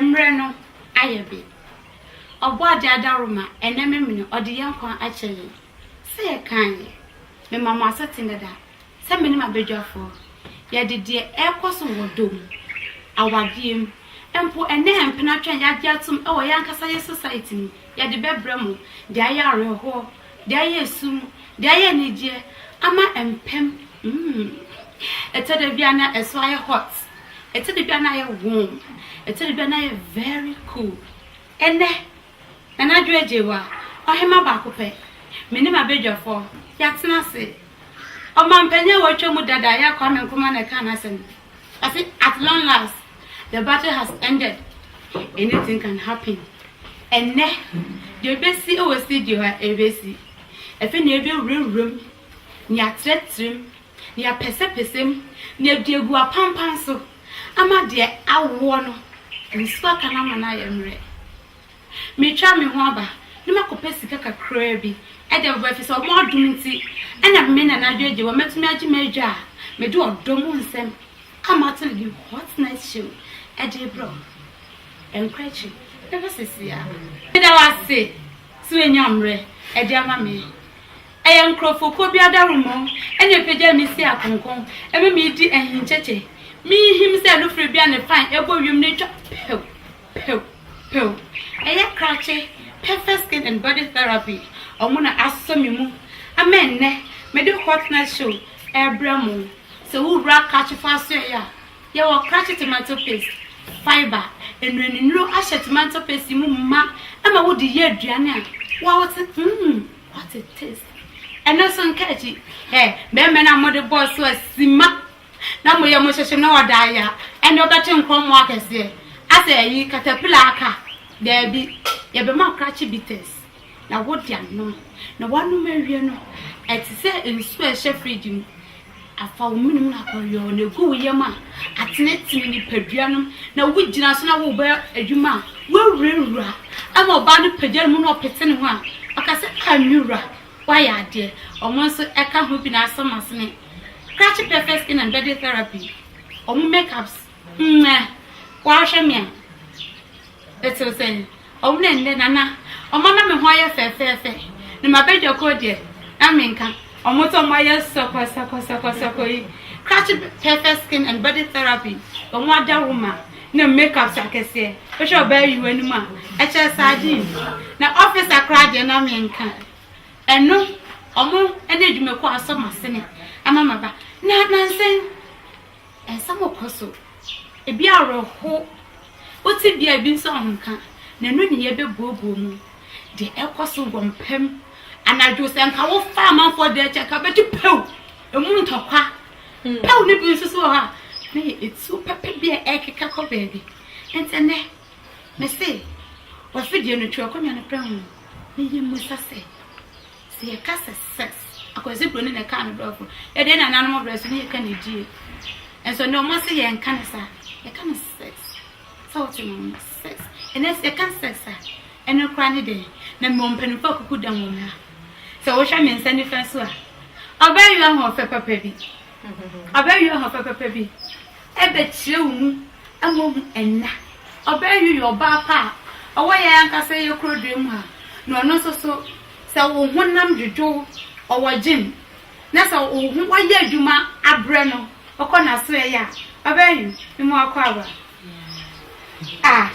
Mmerɛ no ayɛ be. Ɔbɔadeɛ adaworoma, ɛnnɛ memene, ɔde yɛn nkwa akyɛ yɛn. Sɛ yɛkan yɛ. Mema mo asete dada, sɛ mene m'abadwafoɔ. Yɛde deɛ ɛrekɔ so wɔ dɔ mu, awadeɛ mu, mpo ɛnnɛ mpena twɛn yɛagye atom wɔ yɛn ankasa yɛ society mu, yɛde bɛbrɛ mo, de ayɛ awerɛhoɔ De ayɛ su mu, de ayɛ anigyeɛ ama mpam mm Ɛtɔ da bi a na ɛso ayɛ hot Ɛtɔ da bi a na ayɛ warm Ɛtɔ da bi a na ayɛ very cool Ɛnnɛ, Nana Adwo Agyewua, Ɔhema baako pɛ Me ne m'abadwafoɔ, yɛatena ase Ɔmampanin a watwa mu dada, Yah Kwame Nkrumah na ɛkaa n'asɛm. I say at long last the battle has ended anything can happen ɛnɛ deɛ ɛbɛsi wɔ studio ha ɛbɛsi ɛfɛ nea ɛbɛwurawura mu nea atrɛtrɛ mu nea apɛsɛpɛsɛ mu nea ɛde agu apampan so ama deɛ awoɔ no nsuo aka no ama no ayɛ mmerɛ Metwaa me ho aba na makɔpɛ sika kakraa bi de aboa efisɛ wɔn adom nti na me nana adwagya wɔ mɛtumi agye m'adwa a mede ɔdɔ mu nsɛm ka m'atele ne Hot Night Show de rebrɛ wɔn. Ɛnkɔ akyiri na hwɛ seesei a. Meda wo ase sɛ woanya mmerɛ de ama me. Ɛyɛ nkurɔfokuo bi adaworoma na ɛpagyaa me si akonko, ɛma meredi ahinkyɛkyɛ, mehinhim sɛ anofire bi a ne pan bɔ wiem na atwa pɛw. Pew pew ɛyɛ krakye perfect skin and body therapy ɔmo na asɔ me mu ama ɛnnɛ mede hot night show ɛɛbrɛ mo sɛ wo wura krakyefo asoɛe a yɛwɔ krakye tomato paste fibre nnuanennuro ahyɛ tomato paste yi mu ma ɛma wode yɛ aduane a wa wote mmm what a taste ɛno nso nka akyi ɛ bɛɛmɛ no a mode bɔɔ so a sima na moyɛ mo nhyehyem na wɔda ayɛ a, ɛnde wɔbɛkye nkorɔmmoa akɛseɛ. Asɛ ɛyi caterpillar aka? Daabi, yɛbɛma akrakye bitters na wode anom. Na woanom awie no, ɛte sɛ nsuo a ɛhyɛ fridge mu. Afa wo mene mu na kɔ yɔ na ɛgu wo yam a, atenetene nipadua no mu na wogyina so na worebɔ adwuma a, woawurawura. Ɛma ɔbaa no pagya ne mu na ɔpete ne ho a, ɔka sɛ, Ah me wura, wɔayɛ adeɛ. Wɔn nso ɛka ho bi na asam asene, krakye pɛfɛ skin and body therapy, wɔn make ups, mmɛ, woahwɛ me a, ɛtew sɛn? Wɔn na ɛnnɛ nana, wɔn ama me ho ayɛ fɛfɛɛfɛ, ne m'abadwa kɔɔ deɛ, na menka. Wɔn nso wɔn ayɛ sɔkɔsɔkɔsɔkɔsɔkɔ yi, krakye pɛfɛ skin and body therapy, wɔn ada wo ma. na makeup hyɛ akɛseɛ wohwɛ ɔbaa yi w'anim a ɛkyɛ sardine na officer koraa deɛ na menka ɛno ɔmo ɛne adwumakuo asɔ masene ama maba na nansen ɛnsɛm ɔkɔ so ebi awerɛho wote bia ebi nso ahonka na ɛno ne yɛbɛbuobuo mu deɛ ɛkɔ so wɔ mpam anadwo sɛ nka wofa amanfoɔ deɛ kyɛ nka bɛgye pɛw Emu ntɔkwa pɛw no bi nso so wɔ hɔ a, na yɛ etuo pɛpɛ bi a ɛkeka kɔ baabi. Nti ɛnɛ, mese w'afidie no twerɛ akonnwa no prɛ ho na yɛmmisa sɛ, sɛ yɛka sɛ sex, Akwasi Broni na ɛkaa no brɛfo, yɛdeɛ na nananom brɛ so ne yɛka ne die. Nso ne ɔma se yɛnka ne saa, yɛka no sex. Sɛ wote no no, sex. Ɛnɛ sɛ yɛka sex a, ɛno koraa ne dɛn? Na mmom mpanimfoɔ akuku dɛm wɔ mmra. Sɛ wohwɛ me nsa nifa so a, ɔbɛwe ahoɔfɛ papa bi. Ɔbɛwe ahoɔfɛ papa bi. Ɛbɛkyerɛ wo mu ama ohu ɛna. Ɔbɛwe yɛ ɔbaa pa a ɔwɔ yɛn ankasa yɛ kurodua mu ha, na ɔno nso so, sɛ wo honam dwodwo wo, ɔwɔ gym, na sɛ wo ho wayɛ adwuma abrɛ no, ɔkɔ n'asoɛe a, ɔbɛwe ne mu akɔ aba. Ah,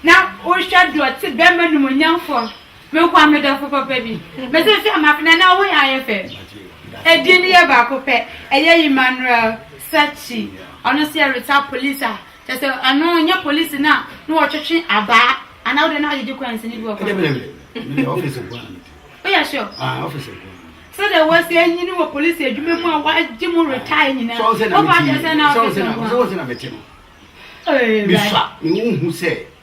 na wohwɛ deɛ ɔte bɛrima nimonyamfoɔ Me nkoa me dɔfo papa bi. Me se hwɛ ma fina na wo yɛ ayɛ fɛ. Edin no yɛ baako pɛ. Ɛyɛ Emmanuel Sachi. Ɔno nso yɛ retired police a kyɛ sɛ ɛno nyɛ police na na wɔtwetwe abaa anaa wode no agyegye coins no bi wɔ kwan. Woyɛ sure? Ah, officer nkoa. sɛdeɛ wɔasi anyini wɔ polisi adwuma mu a wɔagye mu retire nyinaa wofa kyɛ sɛ na officer nkoa. Sɛ wɔn sɛ na mete no. Ɛɛ, Bra. Bisa, mehu sɛ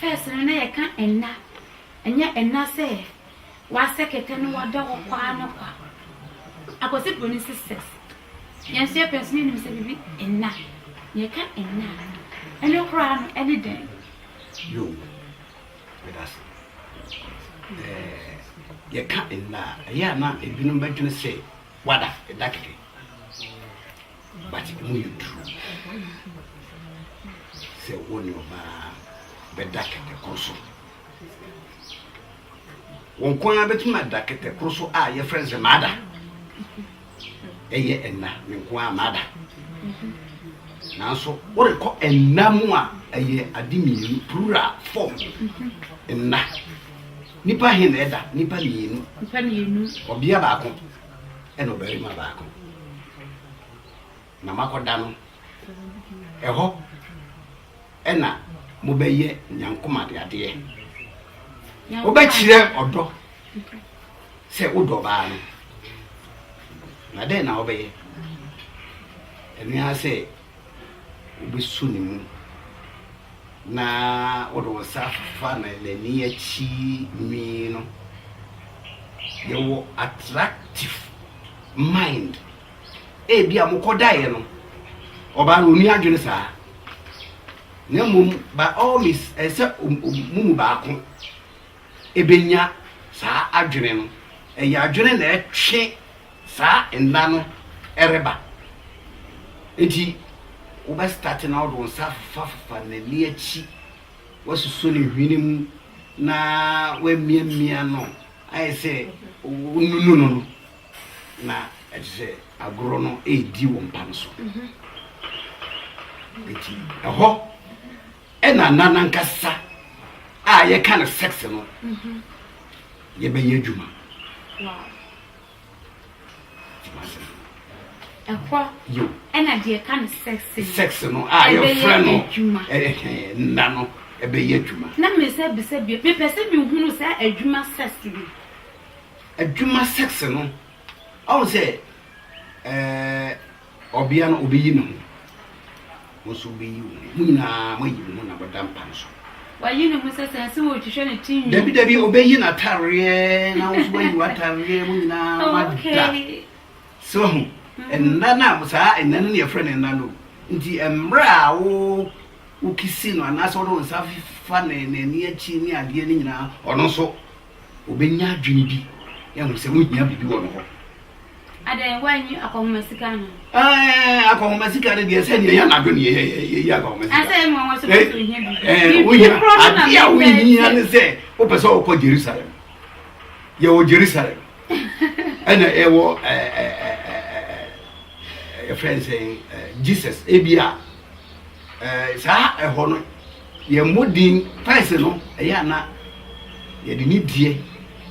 First no na yɛka ɛnna, ɛnyɛ ɛnna sɛ w'asɛ kɛtɛ no w'ada hɔ kwa ara no kwa. Akwasi Broni sisters, yɛn nso yɛpɛ nso yɛnim sɛ biribi ɛnna. Yɛka ɛnna a, ɛno koraa no ɛne dɛn? Yo, medase. Ɛɛ, yɛka ɛnna a, ɛyɛ a na ebinom bɛdwene sɛ w'ada, ɛda kɛkɛ. but emu yɛ duru sɛ wo ne ɔbaa bɛda kɛtɛ koro so wɔn kɔn ara bɛtumi ada kɛtɛ koro so a yɛfrɛ no sɛ maada ɛyɛ ɛna ne nko ara maada nanso worekɔ ɛna mu a ɛyɛ ade mmienu plural form ɛna nipa he na ɛda nipa mmienu ɔbea baako ɛna ɔbarima baako na makɔda no ɛhɔ ɛna mobɛyɛ nyankomade adeɛ wobɛkyerɛ ɔdɔ sɛ wodɔ baa no na dɛn na wobɛyɛ ɛnoa sɛ wobɛsu ne mu na wode wo nsa afefa n'ani akyi nwi no. Yɛwɔ attractive mind. Ebi a mokɔdaeɛ no, ɔbaa no ɔni adwene saa. Na mmom, by all means, ɛsɛ mo mu baako benya saa adwene no. Ɛyɛ adwene na ɛtwe saa nna no reba. Enti wobɛ start na wode wo nsa afefaafefa n'ani akyi, woasuso ne hwene mu na woamiamia no ayɛ sɛ wonunu no no, na ɛte sɛ agorɔ no redi wo mpa no so. Enti ɛhɔ. Ɛna nna nankasa a yɛka no sex no yɛbɛyɛ adwuma. Ɛhɔ ɛna deɛ ɛka no sex no sex no a yɛfrɛ no adwuma nna no ɛbɛyɛ adwuma. Na me sɛ bisa bi mepɛ sɛ mehunu sɛ adwuma sex no. Adwuma sex no ɔn sɛ ɛɛ. Ɔbea no, obeyi ne ho. Wo nso wubeyi wo ho. Mo nyinaa moayi mo ho na moda mpa no so. Wayi ne ho sɛ sɛn? Sɛ wɔretwitwa ne ti nwi? Dabi, dabi, obeyi n'atareɛ, na wo nso woayi w'atareɛ. Mo nyinaa Oh, moada. okay. So ahu? Nna no a, saa nna no na yɛfrɛ no nna no o. Enti mmerɛ a wo, wokisi no anaasɛ wode wo nsa fa ne, n'ani akyi ne adeɛ no nyinaa, ɔno nso Obenya adwene bi ahu sɛ wohia biribi wɔ ne hɔ. Adɛn, woanyi akɔnhoma sika no? Ɛɛ, akɔnhoma sika no deɛ sɛ nea yɛn adwene yɛ yɛ yɛ yɛ akɔnhoma sika. Ɛsɛ yɛ mmoa wɔsɛ wɔsɛ ohia bi. Ɛɛ, wohia adeɛ a wohia ne sɛ wopɛ sɛ wɔkɔ Jerusalem. Yɛwɔ Jerusalem. Ɛna ɛwɔ ɛɛ ɛɛ ɛɛ ɛɛ yɛfrɛ nsɛn ɛɛ Jesus ebi a ɛɛ saa ɛhɔ no. Yɛn mmɔden pɛsɛ no, ɛyɛ a na yɛde nidie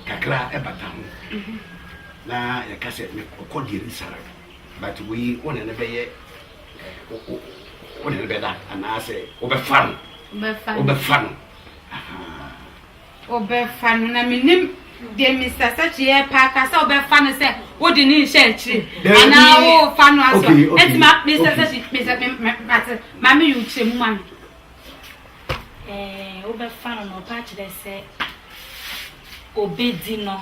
kakra bata ho, na yɛka sɛ, Mekɔ Yerusalem, but wei wo ne no bɛyɛ wo ne no bɛda anaasɛ wobɛfa no wobɛfa no Wobɛfa no, na mennim deɛ Mister Sachi repa aka sɛ wobɛfa no sɛ wode ne nhyɛ akyire anaa wofa no asɔ ɛnti ma Mister Sachi Mister mate ma me yɛ wokyerɛ mu ma me. Ɛɛ wobɛfa no na ɔpa akyerɛ sɛ obedi no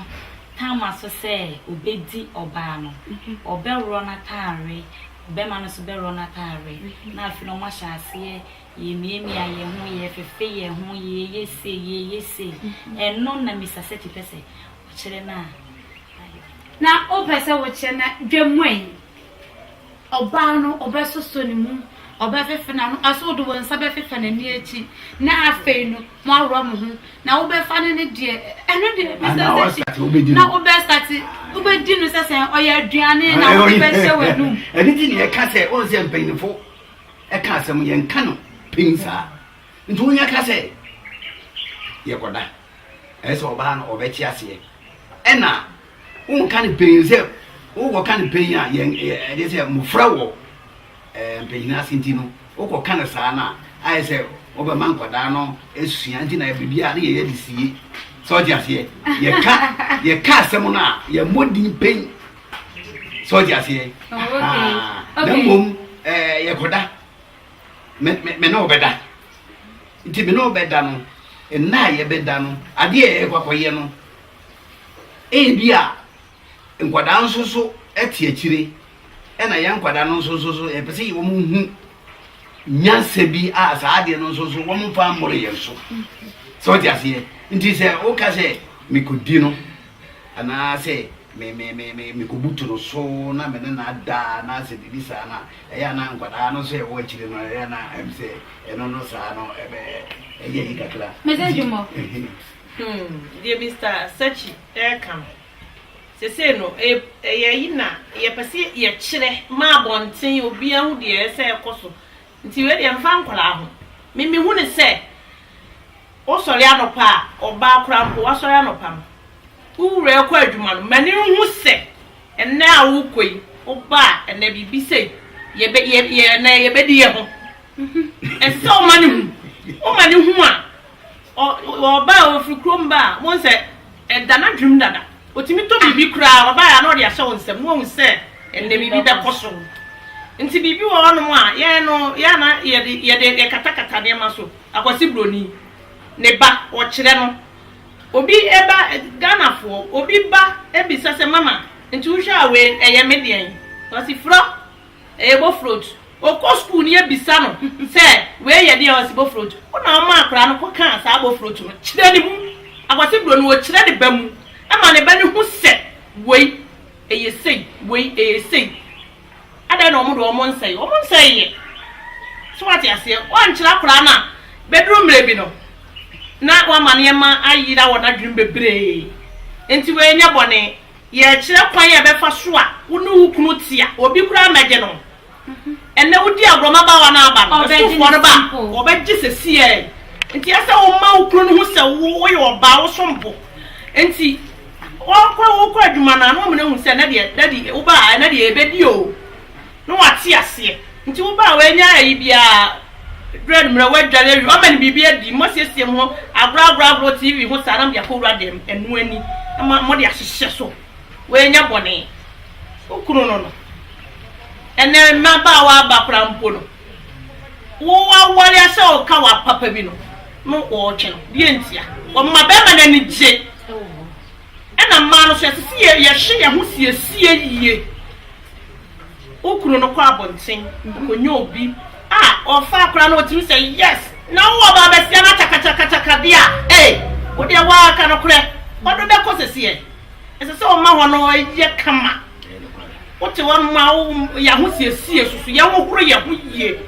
tama so sɛ obedi ɔbaa no ɔbɛworɔ n'ataare ɔbɛma no so bɛworɔ n'ataare na afei na ɔmo ahyɛ aseɛ. Yɛmiamia yɛn ho, yɛfefe yɛn ho, yɛyɛ sei, yɛyɛ sei. Ɛno na Mister Sethi pɛ sɛ ɔkyerɛ no a ayɔ. Na wopɛ sɛ wokyerɛ no dwa mu a, ɔbaa no ɔbɛsosɔ ne mu, ɔbɛfefe n'ano, ɛso wode wo nsa bɛfefa n'ani akyi, na afei no moaworɔ mo ho, na wobɛfa no ne deɛ, ɛno deɛ Mister Sethi, na wobɛstate, wobɛdi no sɛ sɛ ɔyɛ aduane na wode bɛhyɛ w'anum. Ɛno nti na yɛka sɛ, wɔn sɛ mpanyinfo ɛka asɛm yɛnka no pɛn saa nti wonya ka sɛ yɛkɔda ɛyɛ sɛ ɔbaa no ɔbɛte aseɛ ɛna wonka no pɛn sɛ wokɔka no pɛn a ɛde sɛ mmɔfra wɔ mpanyin ase nti no wokɔka no saa no a ayɛ sɛ wobɛma nkwadaa no asua nti na biribi a ne yɛyɛ de sie sɛ ɔte aseɛ yɛka yɛka asɛm no a yɛmmɔ din pɛn sɛ ɔde aseɛ oh, ah, na mmom eh, yɛkɔda me ne ɔbɛda nti me ne ɔbɛda no nna a yɛbɛda no adeɛ a yɛkɔ akɔyɛ no ebi a nkwadaa nso so te akyire ɛna yɛn nkwadaa no nso so yɛpɛ sɛ wɔn hu nyansa bi a saa adeɛ no nso so wɔn fa mmoro yɛn so sɛ ɔte aseɛ nti sɛ woka sɛ mekɔdi no anaasɛ me me me me mekobutu no so na me ne no ada anaasɛ biribi saa no a, ɛyɛ a na nkwadaa no nso a ɛwɔ akyire no ɛyɛ a na ɛm sɛ ɛno no saa no ɛbɛ ɛyɛ yi kakra. Mede nti dwom ɔ. Hmm, deɛ Mister Sakyi reka no, sesei no ɛyɛ ɛyɛ ayi na yɛpɛ sɛ yɛkyerɛ ma abɔnten obiara hu deɛ ɛyɛ sɛ ɛkɔ so nti wei deɛ mfa nkwadaa ho me mehu no sɛ Wosɔre anɔpa a, ɔbaa koraa mpo, woasɔre anɔpa no, wo wura rekɔ adwuma no, ma no nhu sɛ ɛnnɛ a worekɔ yi, woba a, ɛnnɛ biribi sei, yɛbɛ, yɛ, yɛ, ɛnnɛ yɛbɛdi yɛ ho. Ɛsɛ sɛ woma no hu. Woma no hu a, ɔ, ɔba a, ɔfiri kurom ba a, wohu sɛ ɛda n'adwenem dada. Ɔtumi tɔ biribi koraa, ɔba a, na ɔde ahyɛ wo nsam, na wahu sɛ ɛnnɛ biribi bɛkɔ so. Nti biribi wɔ hɔnom a, yɛn no, yɛn na yɛde, yɛde, yɛkatakata nneɛma so. Akwasi broni ne ba ɔkyerɛ no obi ba Ghana foɔ obi ba bisa sɛ mama nti wohwɛ a wei ɛyɛ me deɛn ɔsi frɔ ɛyɛ bofrot ɔkɔ school no yɛbisa no sɛ wei yɛ deɛn ɔsi bofrot wo na ɔma akwadaa no kɔ kaa saa bofrot no kyerɛ ne mu Akwasi broni ɔkyerɛ ne ba mu ɛma ne ba no hu sɛ wei ɛyɛ sei wei ɛyɛ sei. Adɛn na wɔn de wɔn nsɛe? Wɔn nsɛe yɛ. So wate aseɛ? Wɔankyerɛ akwadaa no a, bɛduru mmerɛ bi no, na wama nneɛma ayera wɔ n'adwenem bebree. Nti wei nyɛ bɔne. Yɛrekyerɛ kwan a ɛbɛfa so a wo ne wo kunu te a obi koraa mmɛgye no. Ɛnnɛ wodi agorɔ mmabaawa no aba no, Kristofoɔ no ba a, wɔbɛgye seesei ara yi. Nti ɛsɛ sɛ woma wo kunu no hu sɛ woyɛ ɔbaa, wosom bo. Nti. Wɔkɔ wokɔ adwuma no a na wɔn nyinaa hu sɛ ɛnɛ deɛ daddy wobaa ɛnɛ deɛ yɛbɛdi o na wɔate aseɛ nti wobaa w'anya ayi biara brɛ no mmerɛ woadware awie wɔama no biribi adi mo asiesie mo ho agorɔ agorɔ agorɔ TV ho saa na mode akɔ wura dɛm ɛno ani na mode ahyehyɛ so w'anya bɔne wo kunu no no ɛnɛ mmabaawa aba koraa mpo no. Wo aware a sɛ ɔka wo apapa bi no no ɔɔtwe no deɛ ntia? Ɔma bɛɛma no ani gye ɛna mmaa no so ɛsese yɛ yɛ hye yɛ ho siesie yie Wo kunu no kɔ abonten ɔkɔnya obi a ɔfa akora no ɔtumi sɛ yes na wo ɔbaa bɛsia no akyakakyakakyaka deɛ a ee wo deɛ waa ka no korɛ ɔdo bɛkɔ sese yɛ ɛsese ɔma hɔ no yɛ kama Ɛyɛ nokware. Wote hɔ ma wo yɛ ahosiesie susu yɛ hohoro yɛ ho yie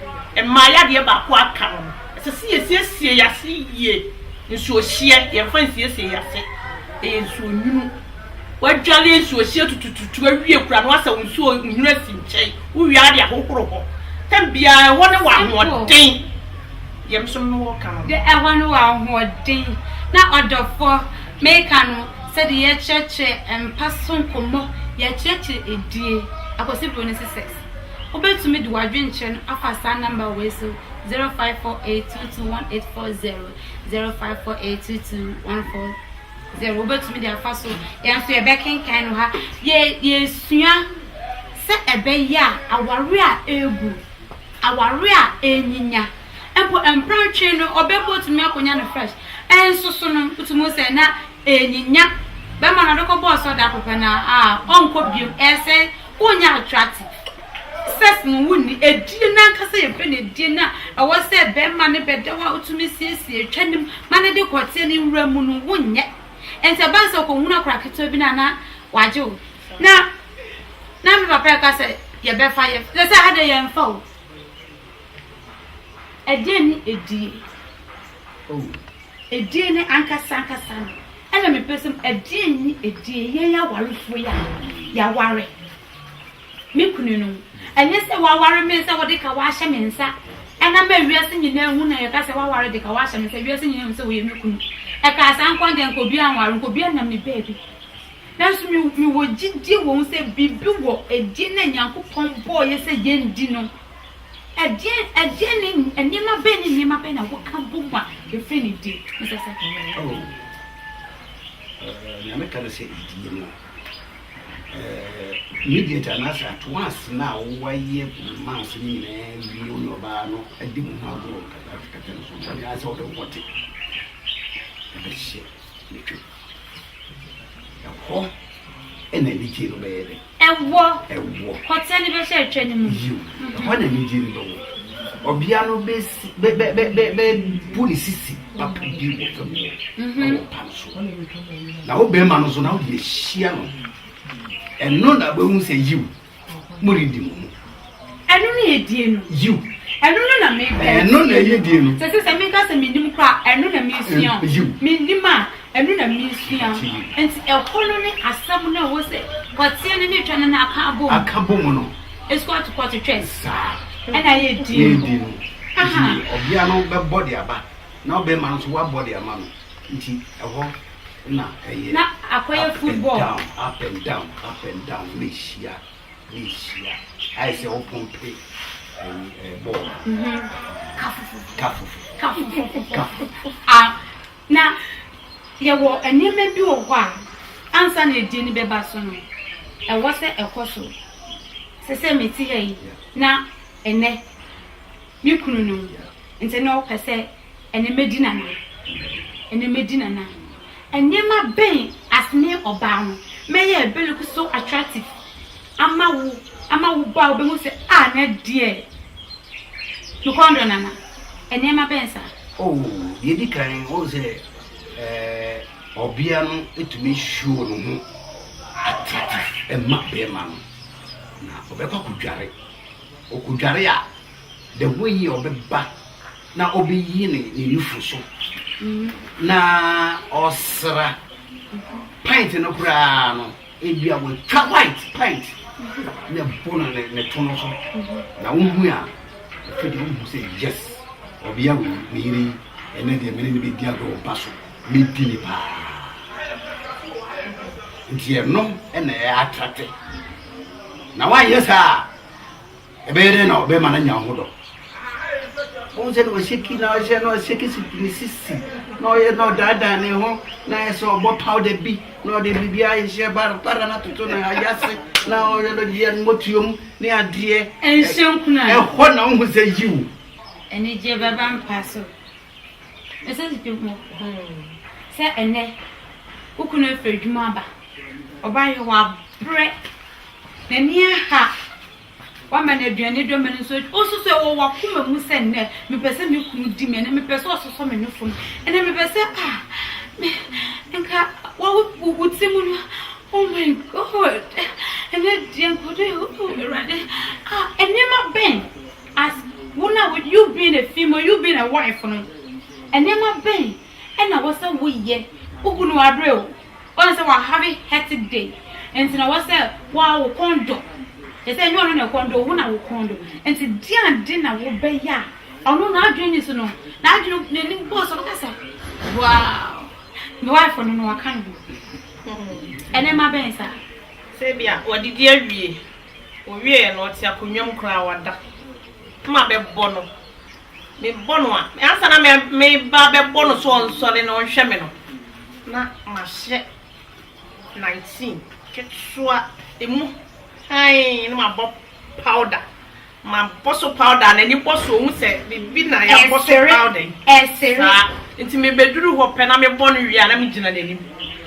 mmaa yɛ adeɛ baako a aka no no ɛsɛ sɛ yɛsiesie yɛ ase yie nsuohyeɛ yɛmfa nsiesie yɛ ase ɛyɛ nsuo nwunu wadwale nsuohyeɛ tutututu awie kura no asɛ wo nsuo nwunu asi nkyɛn wowie ara de ahohoro hɔ tam biara ɛhɔ ne wɔ ahoɔden yɛm so no wɔ ka no de ɛhɔ ne wɔ ahoɔden na ɔdɔfoɔ meka no Sɛdeɛ yɛkyerɛkyerɛ mpa so nkɔmmɔ, yɛkyerɛkyerɛ edie, Akwasi Bronin Sesɛs. Wobɛtumi de w'adwenkyerɛ no afa saa nɔmba wei so, 0548221840, 0548221440. Wobɛtumi de afa so. Yɛn nso yɛbɛkenkan no ha. Yɛ, yɛsua sɛ ɛbɛyɛ a aware a ɛrebu, aware a ɛrenyinya, Mpo mpra twe no ɔbɛ mpo otumi akonya no fresh nso so no wotumi hu sɛ na enyinya bɛma no ɔde kɔ bɔɔ sɔɔ da koro pɛ na a ɔnkɔ biom ɛsɛ wonyɛ attractive sex no wonni edie no ankasa yɛ pɛ na edie no a ɛwɔ sɛ bɛma ne bɛda hɔ a wotumi siesie twa nim ma ne de kɔteɛ ne nwura mu no wonyɛ nti ɛba ne sɛ ɔkɔhunu akora ketewa bi no a na wagye wo na na me papa ɛka sɛ yɛbɛfa yɛ sɛ sɛ ha de yɛmfa o Ɛdeɛn ne edie? Oh, edie no ankasa ankasa no, ɛna mepɛ sɛ, ɛdeɛn ne edie? Yɛn awarefoɔ yi a yɛaware, me kunu no, ɛnyɛ sɛ waware me sɛ wode ka wahyɛ me nsa, ɛna ma wiase nyinaa hu na yɛka sɛ waware de ka wahyɛ me nsa, wiase nyinaa hu sɛ woyɛ me kunu. Ɛkaa saa nkwa deɛ nka obi anware, nka obi anam me baabi. Nanso mewɔ gyidie wɔ ho sɛ biribi wɔ edie na Nyankopɔn bɔɔ yɛ sɛ yɛndi no, Ɛdeɛn ne nneɛma bɛn ne nneɛma bɛn na woka bɔ mu a ɛfiri ne din ne sɛ sɛ hene no yɛ hene? Nea meka ne sɛ edin no, immediate anaasɛ at once no a wɔayɛ months no nyinaa awie wo ne ɔbaa no adi mo ho agorɔ nkakrankakra no so anaasɛ ɔbɛwɔte ɛbɛhyɛ ne twam. Ɛhɔ na anigye no bɛyɛ dɛ. Ɛwɔ. Ɛwɔ. Kɔtɛ no bɛhyɛ atwa no mu. Yiw, ɛhɔ na anigye no bɛwɔ. Ɔbea no bɛsi bɛ bɛ bɛ bɛ bɛbu ne sisi papa bi wɔ fam hɔ wɔ mpa no so. Na wo barima no nso na wode ahyia no. Ɛno na wobɛhu sɛ yiw. moredi mo ho. Ɛno na ɛyɛ die no. Yiw. Ɛno no na mepɛ. Ɛno na ɛyɛ die no. Sɛ sɛ sɛ meka sɛ mennim kora a, ɛno na mesua o. Yiw. Mennim a, ɛno na mesua. Enti ɛhɔ no ne asɛm no a ɛwɔ sɛ kɔteɛ no ne twɛ no no aka abom. Aka bom no. Ɛsu ato kɔ to twɛ. Saa. Ɛna ɛyɛ die no. Ɛyɛ die no. Aha. Nti ɔbea no bɛbɔ de aba na ɔbarima no nso wabɔ de ama no. Nti ɛhɔ. Na ɛyɛ na akɔyɛ up and football. down, up and down, up and down, ne hyia, ne hyia. Ayɛ sɛ wopɔmpe ɛyi ɛɛ bɔɔl no. Kafofo, Kafofo, kafofo. kafofo. A, na yɛwɔ nneɛma bi wɔ hɔ a, ansa na adie no bɛba so no, ɛwɔ sɛ ɛkɔ so. Sɛ sɛ mete ha yi, Yeah. na ɛnɛ, me kunu no, Yeah. nti na ɔpɛ sɛ Ɛne madi n'anan. Ɛne madi n'anan. Nneɛma bɛn as me ɔbaa no mɛyɛ ɛbɛ look so attractive ama wo ama wo ba a ɔbɛhu sɛ ah nɛ deɛ me kɔn dɔ nana nneɛma bɛn saa. Oh deɛ edi kan wɔn sɛ eh, ɔbea no etumi show ne ho attractive ɛma bɛrima no na ɔbɛkɔ akɔdware ɔkɔdware a. the way yi a ɔbɛba na ɔbɛyi ne ne nufu so na ɔsra pint no koraa no ebi a wɔatwa white pint na ɛbɔ no ne ne to no so na wohu a ɛfɛ deɛ wohu sɛ yes ɔbea wei ne yere yi ɛnɛ deɛ mene ne bɛdi agorɔ mpa so medi ne paa nti ɛno ɛna ɛyɛ atrate na woanyɛ saa a Ɛbɛyɛ dɛn na ɔbɛma no anya wo ho dɔ? Wohu sɛ na ɔseki na ɔhyɛ na ɔseki si ne sisi na ɔyɛ na ɔdaadaa ne ho na ayɛ sɛ ɔbɔ powder bi na ɔde biribi ahyɛ barabara na toto na ayɛ ase na ɔyɛ no deɛ no mɔtuo mu ne adeɛ. Ɛnhyɛ nkuna. Ɛhɔ na wohu sɛ yiw. Anigye bɛba mpa so. Ɛsɛ si dwom sɛ ɛnɛ wokunu afiri adwuma aba ɔba yɛ wabrɛ n'ani aha Wama no aduan ne dwama no nso adi. Wo nso so, ɛwɔ w'akoma mu sɛ, Nnɛ, mepɛ sɛ me kunu di me, ɛnnɛ, mepɛ sɛ ɔsosɔ me nofo no, ɛnnɛ, mepɛ sɛ, ah, me, nka wo, wo, wo ti mu no, oh my God, ɛnnɛ deɛ nka ɔdɔ yɛ, oh, Awurade, ah, nneɛma bɛn, as, wo na, you being a female, you being a wife no, nneɛma bɛn Ɛna wɔsɛ wo yɛ wo kunu abere o wɔn sɛ wa have hectic day nti na wɔsɛ wa wo kɔn dɔ ɛsɛ ɛnyɛ ɔno na ɛkɔn dɔ wo na wo kɔn dɔ nti di ade na wo bɛ yɛ a ɔno na adwene ni so no na adwene na ni bɔ so bɛka sɛ wow me wife no no waka no ɛnɛ ma bɛn sa sɛ bi a wɔde di awie owie no ɔte akonnwa mu koraa wada ma bɛbɔ no Mebɔ no a, ansa na mereba abɛbɔ no so ɔnsɔre na ɔnhwɛ me no, na mahyɛ nineteen ketewa emu hann na mabɔ powder. Mabɔ so powder a, n'ani bɔ so, ohu sɛ biribi na yɛabɔ so powder yi. Saa nti mebɛduru hɔ pɛ na mebɔ no wie a, na megyina n'anim.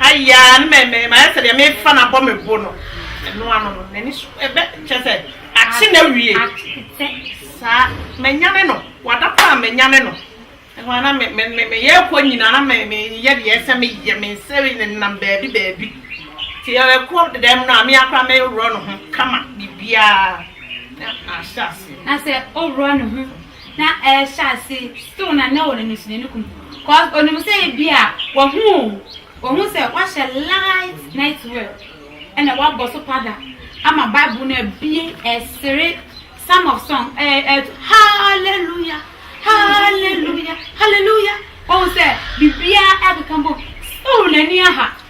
Ayaa no mɛ mɛ mayɛ sɛ deɛ me fa no abɔ me bo no ɛno ano no n'ani so ɛbɛ kyɛ sɛ akye na wie saa manyane no wada paa manyane no ɛhɔ ana me me me me yɛ kɔ nyina na me me yɛ deɛ ɛsɛ me yɛ me nsɛ ne nam baabi baabi ti ɛkɔ dɛm no a me akora me worɔ no ho kama biribiara na ahyɛ ase na sɛ ɔworɔ no ho na ɛrehyɛ ase still na na wɔn ani so n'ani kum cause onim sɛ ebi a wahu o wahu sɛ wahyɛ light night wear ɛna wabɔ so pada ama bible no abie ɛsere some of song ɛɛ ɛɛ hallelujah hallelujah hallelujah wɔn sɛ biribiara ɛkeka bom still n'ani aha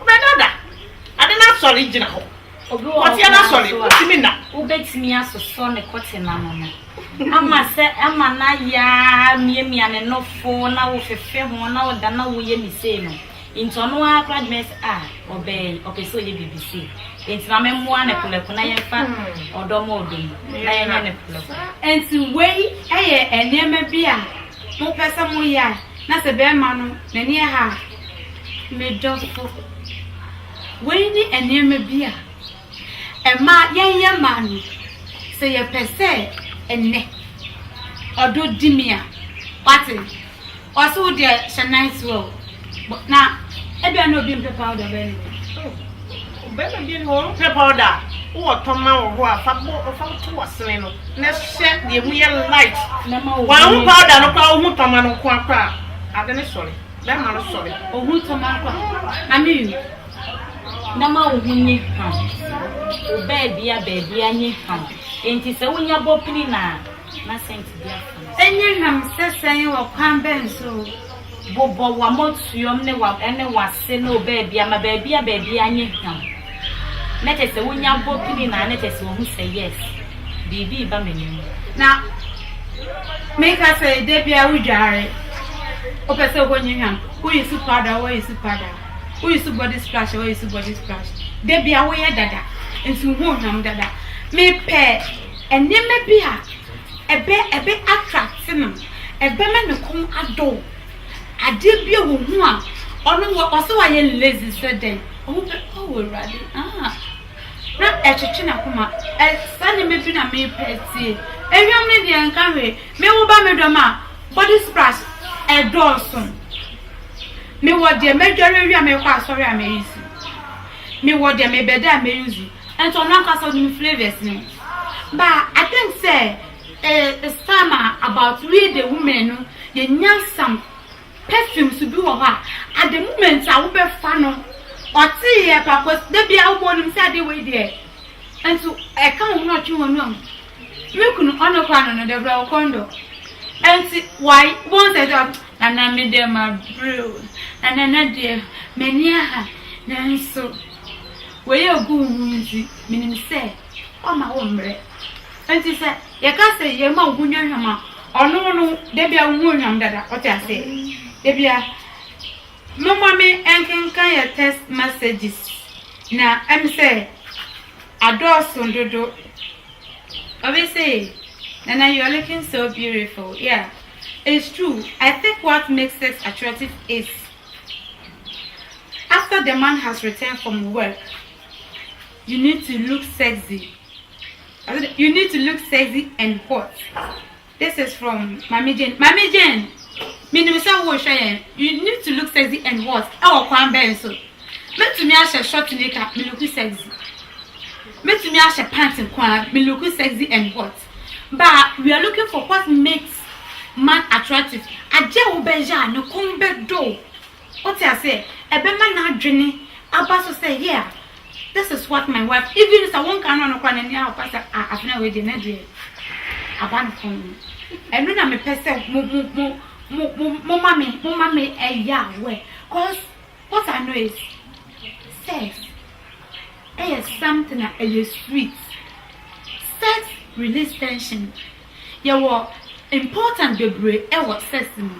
Wobɛda da? Ade no asɔre gyina hɔ. Obi wɔ hɔ Kɔteɛ no koraa asɔre, nso a, wontumi nna. wobɛtumi asosɔ ne kɔten ano no ama sɛ ama no ayɛ ara miamia ne nofo na wofefe ho na woda na woyɛ ne sei no. Nti ɔno ara koraa de bɛyɛ sɛ, ah, ɔbaa yi, ɔpɛ sɛ ɔyɛ biribi sei. Nti ma memmoa no prɛko na yɛmfa ɔdɔ ma ɔdɔ mu na yɛnyɛ no prɛko. Enti wei yɛ nneɛma bi a mopɛ sɛ moyɛ a na sɛ barima no n'ani ha a, Me dɔfo, wei ne nneɛma bi a ɛma yɛyɛ ma no. Sɛ yɛpɛ sɛ ɛnnɛ ɔdɔ di me a, wate, ɔse wo deɛ hyɛ nice wear o. Bɔ- Na ebia na obi mpɛ powder bɛn ne wɔ. Bɛrima bi ne wɔn pɛ powder a wowɔ tɔma wɔ hɔ a fa bɔ fa to w'asene no na hyɛ deɛ mu yɛ light. Mɛma wo Wɔn ho bɔne powder no koraa wohu tɔma no nko ara koraa a, ade no sɔre. Bɛma no sɔre. Ohun to ma nkwa. Amen Na ma wo ho nye haw. Wo baabia baabia nye haw. Enti sɛ wonya bɔ pini no a, na sɛnti bi afa no. Enye nam sɛ sɛn wɔ kwan bɛn so o. Bobɔ w'amɔtuom ne w'am ɛne w'ase ne wo baabia ma baabia baabia nye haw. na kyerɛ sɛ wonya bɔ pini na na kyerɛ sɛ wɔhu sɛ yes, biribi reba m'anim. Na meka sɛ da biara wodware, wopɛ sɛ wokɔ nyehwam, wo use powder, wo use powder, wo use body splash, wo use body splash. Da biara woyɛ dada, nti wohu ohwam dada. Mepɛ nneɛma bi a ɛbɛ ɛbɛ attract no, ɛbɛma ne kɔn adɔ. Adeɛ bi a wohu a ɔno wɔ ɔsɛ wayɛ lazy sɛ dɛn. Wɔbɛpa wo Awurade ah Na ɛkyekye n'akoma Ɛsɛ ne me bi na mepɛ atie Ewiam ne deɛ nka hwee Me wo ba me dɔm a Body splash ɛdɔɔso Me wɔ deɛ mɛdware awie a mɛkɔ asɔre a mɛyusi Me wɔ deɛ mebɛda a mɛyusi Ɛnti ɔno ankasa ɔnim flavors no Ba I think sɛ eh, it's time a about we the women no yɛnya some Perfume so bi wɔ hɔ a at the moment a wobɛfa no ɔte yɛ pa cos da biara wobɔ wonim sɛ adeɛ wei deɛ nso ɛka wo ho na ɔtwe w'ani ɔho me kunu ɔno koraa no no deɛ brɛ wo kɔndɔ nti wai wobɛhu sɛ sɛ nana me deɛ mabrɛ o na nana deɛ m'ani aha nanso wei a ɛgu wo ho nti menim sɛ ɔmma wo mmerɛ. Nti sɛ yɛka sɛ yɛma wo ho nya hwam a, ɔno no da biara wo ho nhwam dada, wote aseɛ? Da biara. Momma me nkenkan yɛ text messages na ɛm sɛ adɔɔso dodo. Obi se, Nana you are looking so beautiful, yeah, it's true, I think what makes sex attractive is after the man has returned from work. You need to look sexy You need to look sexy and hot This is from Mami Jane Mami Jane menim sɛ wohwɛ yɛn You need to look sexy and hot ɛwɔ kwan bɛn so mɛtumi ahyɛ short nika meluku sexy mɛtumi ahyɛ pant nko a meluku sexy and hot but we are looking for what makes man attractive agye wo bɛyɛ a ne kɔn bɛdɔ Ɔte aseɛ? Ɛbɛma n'adwene aba so sɛ yeah, this is what my wife, even sɛ wonka no no koraa no, n'ani aɔba sɛ ah, Abena wei deɛ ne deɛ aba no fam. Ɛno na mepɛ sɛ mo, mo, mo, mo, mo, moma me, moma me ɛyɛ aware. Cause what I know is, sex ɛyɛ something a ɛyɛ sweet. Sex release tension. Yɛwɔ important bebree wɔ sex mu.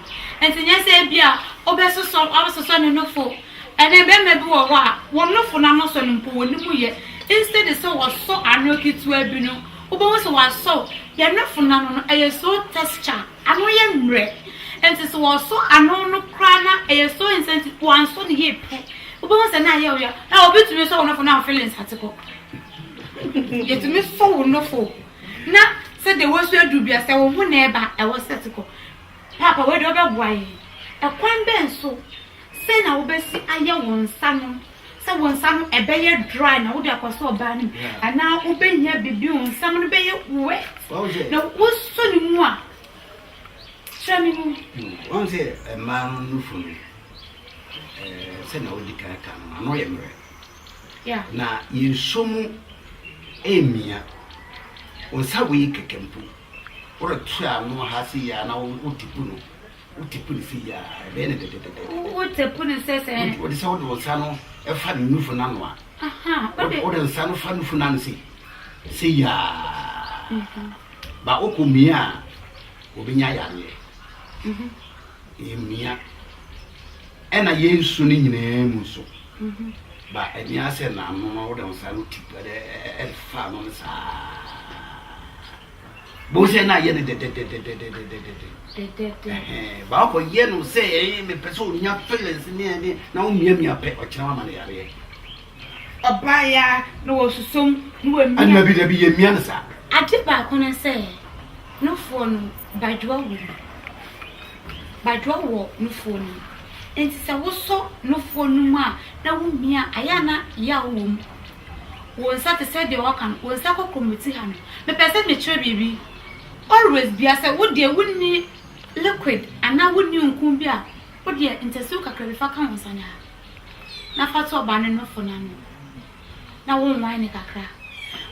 Nti nyɛ sɛ ebia wobɛsosɔ wabɛsosɔ ne nofo. Ɛnɛ mmarima bi wɔ hɔ a, wɔn nofo no ano sɔ no mpo wɔn nim yɛ. Instead sɛ wɔsɔ ano ketewa bi no, wobɛhu sɛ wɔasɔ wo. Yɛn nofo no ano no, ɛyɛ so texture, ano yɛ mmerɛ. Nti sɛ wɔsɔ ano no koraa na ɛyɛ so insensitive, wɔansɔ no yie pɛ, wobɛhu sɛ na ayɛ wo yaw. Hɛ, obi tumi sɔ wo nofo na wo feelings ate kɔ. Yɛtumi sɔ wo nofo Na sɛ deɛ wosu aduru bi a, sɛ wo ho na ɛba a, ɛwɔ sɛ ɛte kɔ. Paapa, wei deɛ wobɛboa yɛn. Ɛkwan bɛn so? Sɛn na wobɛsi ayɛ wo nsa no sɛ wo nsa no ɛbɛyɛ dry na wode akɔ so ɔbaa no mu anaa wobɛhia biribi wo nsam no bɛyɛ wet na wosɔ ne mu a kyerɛ me mu. Wɔn sɛ mmaa no nufu no sɛ na wodi kan ka no ano yɛ mmerɛ. Na yɛnsuo mu ɛmmia. Wo nsa wei kɛkɛ mpo, woreto ano ha sei a na wotepu no, wotepu no sei a, ɛbɛyɛ no dɛdɛdɛdɛdɛ. Wotepu no sɛ sɛ. Wode sɛ wode wo nsa no fa ne nufo no ano a. Wode nsa no fa nufo no ano sei, sei a. Ba wokɔ mmia a, wɔbɛnya yareɛ. Ɛmmia. Ɛna yɛn su no nyinaa mu nso ba ɛnyɛ asɛ n'ano na wode nsa no tip ɛde ɛfa ano no saa bó sɛ na ayɛ no dɛdɛdɛdɛdɛdɛdɛdɛ baako yɛ no sɛ ɛyɛ mepɛ sɛ onya feelings ne ɛne na womiamia pɛ ɔkyerɛ wama no yareɛ ɔbaa ya na wɔsusom na wɔmia ɛna bi dabi yɛmia no saa ade baako no sɛ nofoɔ no badwoa wɔ mu badwoa wɔ nofoɔ no mu. Enti sɛ wosɔ nofoɔ no mu a na wohia a, ɛyɛ a na yaw wɔ mu. Wo nsa te sɛ deɛ wɔaka no, wo nsa kɔ kɔmmoti ha no. Mepɛ sɛ mekyerɛ biribi. Always biara sɛ wo deɛ wonni liquid anaa wonni nku bi a, wo deɛ ntasuo kakra bi fa ka wo nsa no ha na fa to ɔbaa no nofo no ano na wo nwan no kakra.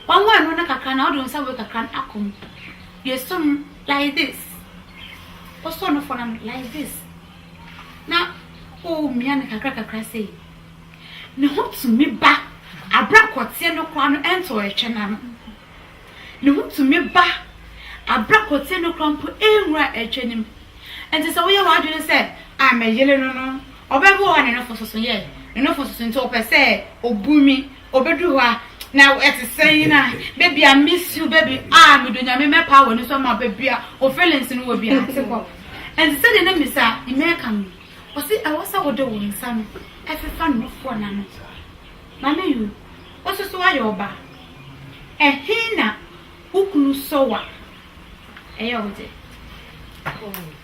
Wanwan no no kakra no a, wode wo nsa wei kakra no akɔ mu. Yɛsɔ mu. Like this wosɔ no fɔ na like this na womia no kakra kakra sei ne ho tumi ba abere akɔteɛ no koraa no ɛnto ɛtwɛ no ano ne ho tumi ba abere akɔteɛ no koraa mpo ɛnwura ɛtwɛ no mu nti sɛ woyɛ w'adwene sɛ a mɛyele no no ɔbɛbi wɔ hɔ a ne nofo soso yɛ ne nofo soso nti ɔpɛ sɛ ɔbu mi Obedu hɔ a na ɛte sɛn a baby I miss you baby ah medɔ nyame mɛpaa w'ani so ama baby a wo feelings no wɔ bi a te hɔ ɛnte sɛ deɛ na misa ne mɛka no ɔse ɛwɔ sɛ wode wo nsa no ɛfefa nufoɔ no ano mame you wo so so woayɛ ɔbaa ɛhe na wo kunu sɔ wo a ɛyɛ wo dɛ.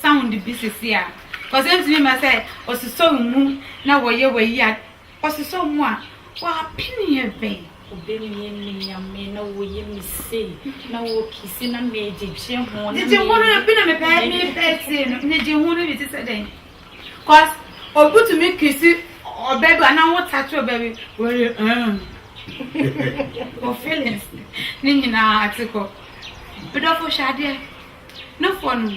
sound bi sisi a cause entumi ma sɛ ɔsosɔ mu na wɔyɛ wayi a ɔsosɔ mu a w'apene yɛ bɛn. Wobɛmie me Nyame na woyɛ me sei na wokisi na megyegye ho na Gyegye ho no bi na mepɛ mepɛ sei no gyegye ho no bi te sɛ dɛn cause obi tumi kisi ɔbɛ bi anaa wo tato ɔbɛ bi wɔyɛ ɛn o feelings ne nyinaa ate kɔ bidɔfo hwɛ adeɛ No foɔ no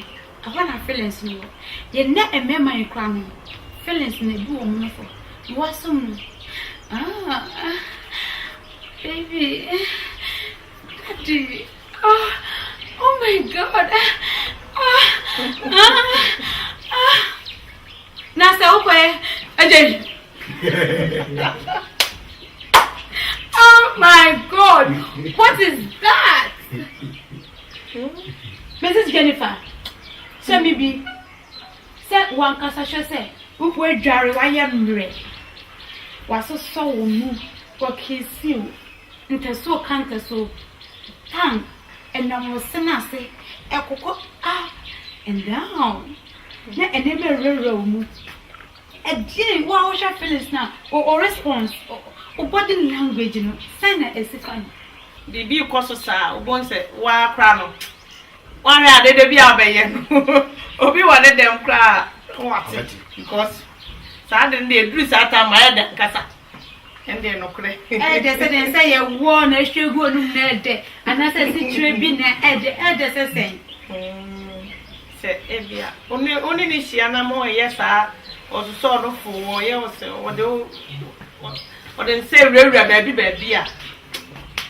ɛhɔ na feelings no wɔ yɛ nɛ mmarima yi koraa no feelings na ebu wɔn no fɔ na wasom no ah baby daddy ah oh my god ah ah ah na sɛ wokɔ yɛ ɛgye yi oh my god what is that. Mrs. Jennifer, hyɛ me bi sɛ wo ankasa hwɛ sɛ woadware, woayɛ mmerɛ, wɔasosɔ wo mu, wɔakisi wo, ntasuo ka ntasuo, tang nam wo se no ase, ɛkokɔ ah, and down, na nneɛma rewurawura wo mu. Ɛdeɛn wo a wohwɛ feelings no a o response wo body language no sɛn na ɛsi fa no. Biribi rekɔ so saa a wobɛhu sɛ wo ara koraa no woahwɛ a dede bi a wobɛyɛ no obi wɔ ne dɛm koraa a wate because saa ade no deɛ ɛduru saa time no ayɛ dɛ ankasa. ɛndeɛ nokorɛ ɛɛdɛ sɛ dɛn sɛ yɛwɔ na ɛhwɛ gu onum na ɛɛdɛ anaasɛ asikyerɛ bi na ɛɛdɛ ɛɛdɛ sɛ sɛn mm, sɛ ebia wone ne hyia na mo ɛyɛ saa ɔsosɔ ɔno fo ɔyɛ wo sɛ ɔde ɔde nsɛ wurawura baabi baabi a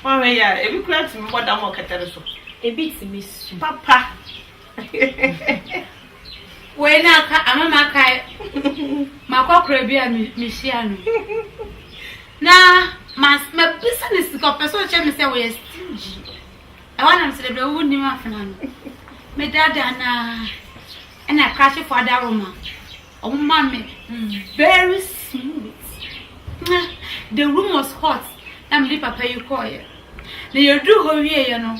ɔhwɛ yɛ a ebi kura tumi bɔ dam ɔkɛtɛre so ebi tumi su papa Wei na aka ama makae makɔkora bi a mehyia no na mabisa no sika ɔpɛ sɛ ɔkyɛ me sɛ wɔyɛ stingy ɛhɔ nam sɛ da bia wonim afena no medada na ɛna krakyefo adaroma ɔmo ma me very smooth na the room was hot na mede papa yi kɔɔyɛ na yɛduru hɔ wieɛ no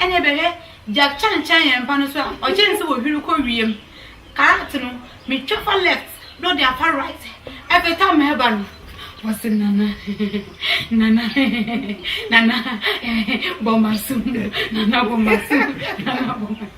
Ɛnneɛ bɛhwɛ, Jack Chan kyɛn yɛn mpa no so a, ɔkyɛn ne sɛ wɔhwiri kɔ wiem. Karat no, metwa fa left na ɔde afa right peta me ba no. Ɔse, Nana, Nana, Nana, bɔ m'aso mu, Nana, bɔ m'aso mu, Nana, bɔ m'aso mu.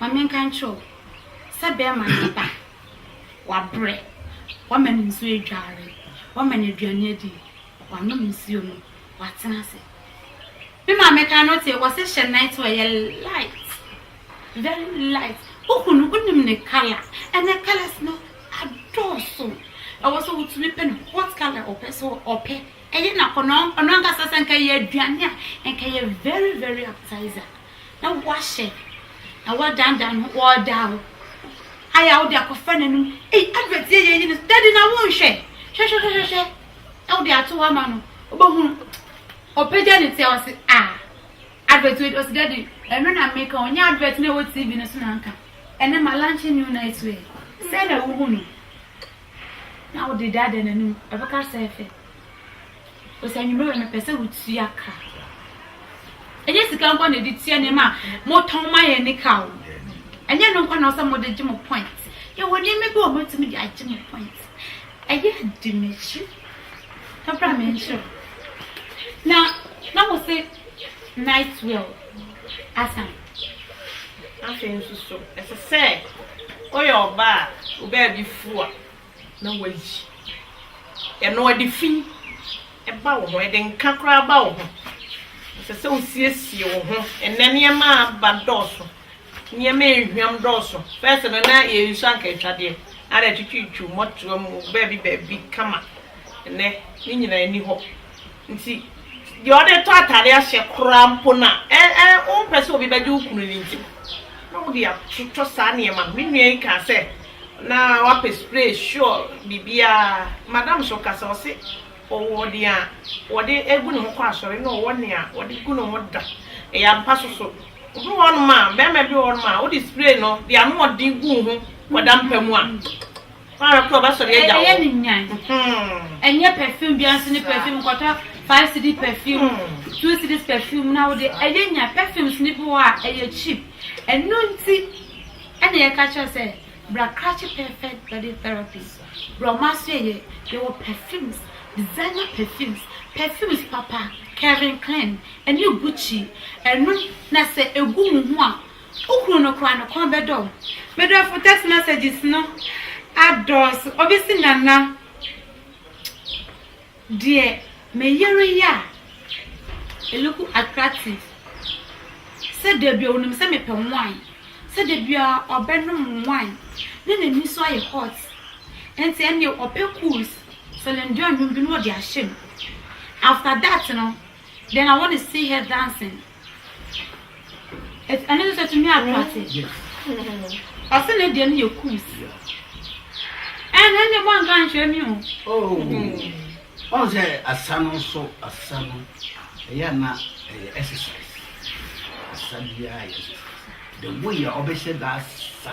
Ma menka nkyerɛ wo sɛ bɛrima no aba. Wabrɛ. Woama no nsuo adware. Woama no aduane adi. Wanom nsuo no. Watena ase. Me maame ka no te, wɔse hyɛ night wear yɛ light. Very light. Wohu no, wonim ne colour. Ɛnɛ colours no adɔɔso. Ɛwɔ sɛ wotumi pɛ no what colour ɔpɛ so ɔpɛ. Ɛyɛ no akɔnnɔ. Ɔno ankasa sɛ nka ɛyɛ aduane a, nka ɛyɛ very very appetizer. na woahyɛ na woadaadaa no ho ɔɔdaa wo ayɛ a wode akɔfa n'anom ei advert yɛ yɛyi no dadi na wonhwɛ hwɛhwɛhwɛhwɛ na wode ato hɔ ama no wobɛhunu ɔpagya ne sɛ ɔse a advert wei ɔse dadi ɛno na meka ɔnyɛ advert na ɛwɔ tv no so na nka ɛnɛ ma lunch new night wear sɛ na wohu no na wode daadaa n'anom ɛbɛka sɛ ɛfɛ Cause anwummerɛ no pɛ sɛ wotua ka. Ɛnyɛ sika nkɔ na ɛde tua nneɛma a motɔn ma yɛn ne ka o. Ɛnyɛ no nkɔ na ɔsɛ mode gye mo point. Yɛwɔ nneɛma bi a wɔatumi de agye mo point. Ɛyɛ adi m'akyi. Ɛbra me nkyerɛ. Na na mo se night well asan. Afei nso so ɛsɛ sɛ woyɛ ɔbaa a wobaa bi fua. na woayi ɛno, ɛde fi ba wo ho, ɛde nka koraa ba wo ho. Ɛsɛ sɛ wosiesie wo ho. Ɛnɛ nneɛma a aba dɔɔso, nneɛma a ehwam dɔɔso. Fɛs no na yɛn nsu anka atwadeɛ, ara atwitwitwiw mmɔtoa mu baabi baabi kama. Ɛnɛ ne nyinaa ni hɔ. Nti deɛ ɔde tɔ atade ahyɛ koraa mpo no a, ɛ, ɛ, wompɛ sɛ obi bɛgye wo kunu no nti na wode atotɔ saa nneɛma no. Me nua yi kaa sɛ na wapɛ spray, sure, biribiara. Madam nso kasa, ɔse ɔwɔ nea wɔde gu ne ho kɔ asɔre na ɔwɔ nea wɔde gu ne ho da. Ɛyɛ ampa nso so. Obi wɔ hɔnom a, barima bi wɔ hɔnom a, wode spray no de anoɔden gu wo ho kɔda mpa mu a, Mara pɛ ɔbɛsɔ de agya wo. Ɛyɛ ne nyan. Ɛnyɛ perfume bia nso ne perfume kɔtɔ five cedi perfume two cedis perfume na wode ɛyɛ nyan perfumes ne bi wɔ a ɛyɛ cheap. Ɛno nti ɛna yɛka kyerɛ sɛ bra krakye perfect body therapy brɔma so yɛyɛ yɛwɔ perfumes designer perfumes perfumes papa Kevin Klein ɛne Gucci ɛno na sɛ ɛgu wo ho a Wo kunu no koraa no kɔn bɛdɔ wo. Me dɔfo text messages no adɔɔso obi se Nana deɛ me yere yɛ a it look attractive sɛ dabi onim sɛ mepɛ wine sɛ dabi a ɔbɛnom wine ne n'ani so ayɛ hot nti ɛnneɛ ɔpɛ cools Celine Dion nnwom bi no ɔde ahyɛ mu after that no then I want to see her dancing Ɛno nso ɛtumi atra ase. Ɔse ne deɛ no yɛ kums. Ɛnna ɛnna mo anka nkyerɛ mi o. Oh. Ɔn sɛ asa no nso asa no ɛyɛ na ɛyɛ exercise. Asa biara yɛ exercise. The way a ɔbɛhyɛ da asa.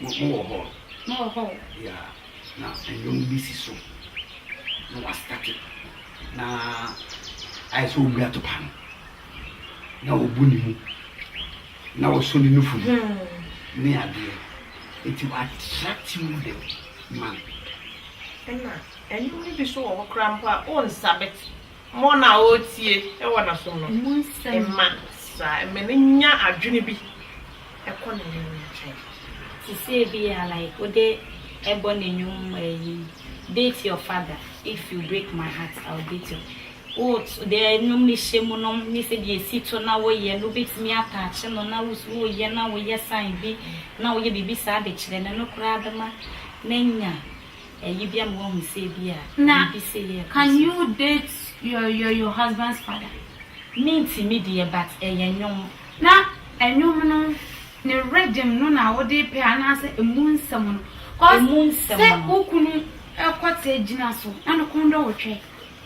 Mo mo wɔ hɔ? Mo wɔ hɔ o. Yeah, na nnwom bi si so na wasitati na ayɛ sɛ obi atopa no na obu ne mu na ɔsɔ ne nufu mu hmm. ne adeɛ nti wa attract you the man. Ɛna nnwom no bi so wɔ hɔ koraa mpo a ɔnsa bɛte. Mo na ɔretie wɔ n'asom no, mma saa, mma no nnya adwene bi kɔ ne yere no nkyɛn. Te sɛ ebia like wo de bɔ no nnwom eyi beat your father if you break my heart I'll beat your wo de nnwom no hyɛ mu no ne sɛ deɛ ɛsi to na woyɛ no wobɛtumi ataache no na wosu woyɛ na woyɛ sign bi na woyɛ biribi saa de kyerɛ no no koraa bɛma no anya Eyi bia ma wahu sɛ ebia biribi sei yɛ papa. Can you date your your your husband's father. Me ntimi deɛ but ɛyɛ nnwom. Na ɛnwom no ne rhythm no na wode pɛ anaasɛ ɛmu nsɛm no? Cause sɛ wo kunu kɔte gyina so na ne kɔn dɔ wo twɛ.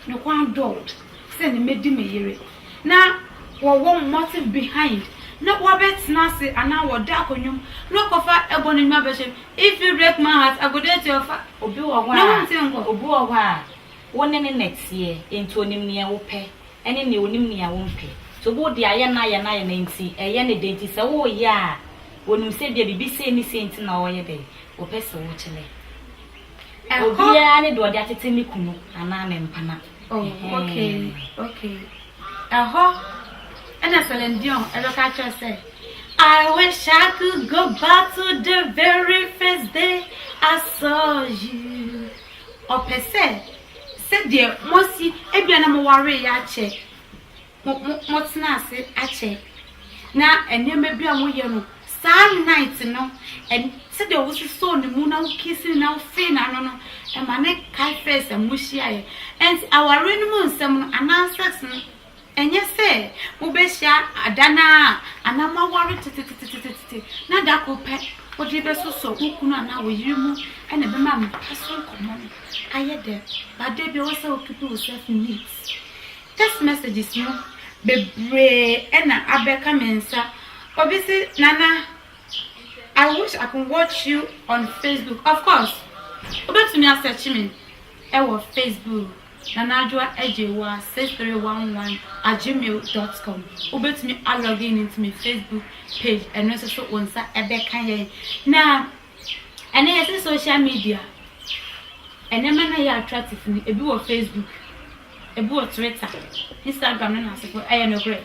ne kwan dɔɔd sɛ ne mɛdi me yere na wɔ wɔ mmɔten behind na wɔ bɛ tena ase anaa wɔ da akɔnwom na ɔkɔ fa ɛbɔ ne nwa bɛhyɛ me if you break my heart I go there to your fa Obi wɔ hɔ a, na wo nte nkɔ. Obi wɔ hɔ a, wo ne ne na ɛteɛ enti ɔnim neɛ wo pɛ ɛne neɛ ɔnim neɛ wo mpɛ nti obi wɔ deɛ ayɛ no ayɛ no ayɛ no enti ɛyɛ ne dɛ nti sɛ wo yɛ a ɔnim sɛ bia biribi sei ne sei nti na ɔyɛ dɛ ɔpɛ sɛ wo kyelɛ. Obiara ne deɛ ɔde atete ne kunu anaa ne mpena. Oh, okay, okay. Ɛhɔ ɛna Celine Dion ɛbɛka akyerɛ sɛ I wish I could go back to the very first day I saw you. Ɔpɛ sɛ sɛdeɛ mosi ebia na mowaree akyɛ. Mo mo motena ase akyɛ na nneɛma bi a moyɛ no saa night no ɛn sɛdeɛ wososɔɔ ne mu na wo kiss no na wo fee n'ano no ɛma no kae first time mo hyiaeɛ ɛnti awareɛ no mu nsɛm no anaa sex no ɛnyɛ sɛ mobɛhyia da no ara anaa mo aware tetetetetete na da koro pɛ wode bɛsosɔ wo kunu anaa wo yere mu ɛna ɛbɛma mpa so nkɔmmɔ no ayɛ dɛ but da biara wɔ sɛ wo keep yourself neat Text messages no bebree na abɛka me nsa, obi se Nana I wish I can watch you on Facebook, of course wobɛtumi a search me wɔ Facebook Nana Adwoa Agyewoa 6311 at gmail dot com, wobɛtumi a log in into me Facebook page, ɛno nso so wo nsa bɛka yɛn na. Ɛnɛ yɛse social media a, nneɛma no a ɛyɛ attractive no, ebi wɔ Facebook, ebi wɔ Twitter, Instagram ne nnansefo. Ɛyɛ nokorɛ.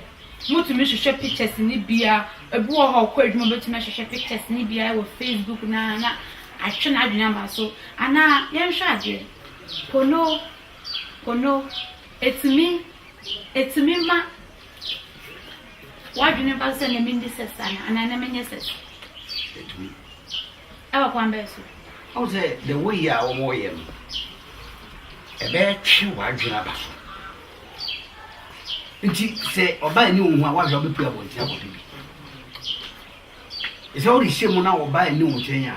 Motumi hwehwɛ pictures no bi a, ebi wɔ hɔ a ɔkɔ adwuma bɛtumi ahwehwɛ pictures no bi a wɔ Facebook no ara na atwe n'adwene ama so. Anaa yɛnhwɛ adeɛ, pono, pono, ɛtumi, ɛtumi ma. W'adwene mfa so sɛ na menni sex anaa? Anaa na menyɛ sex? Ɛtumi. Ɛwɔ kwan bɛn so? Wohu sɛ the way a wɔyɛ no, ɛbɛtwe w'adwene aba so. Nti sɛ ɔbaa ani wo ho a, woahwɛ wobɛpue abɔnten akɔhwɛ bi. Ɛsɛ worehyɛ mu na ɔbaa ani wo nkyɛn a,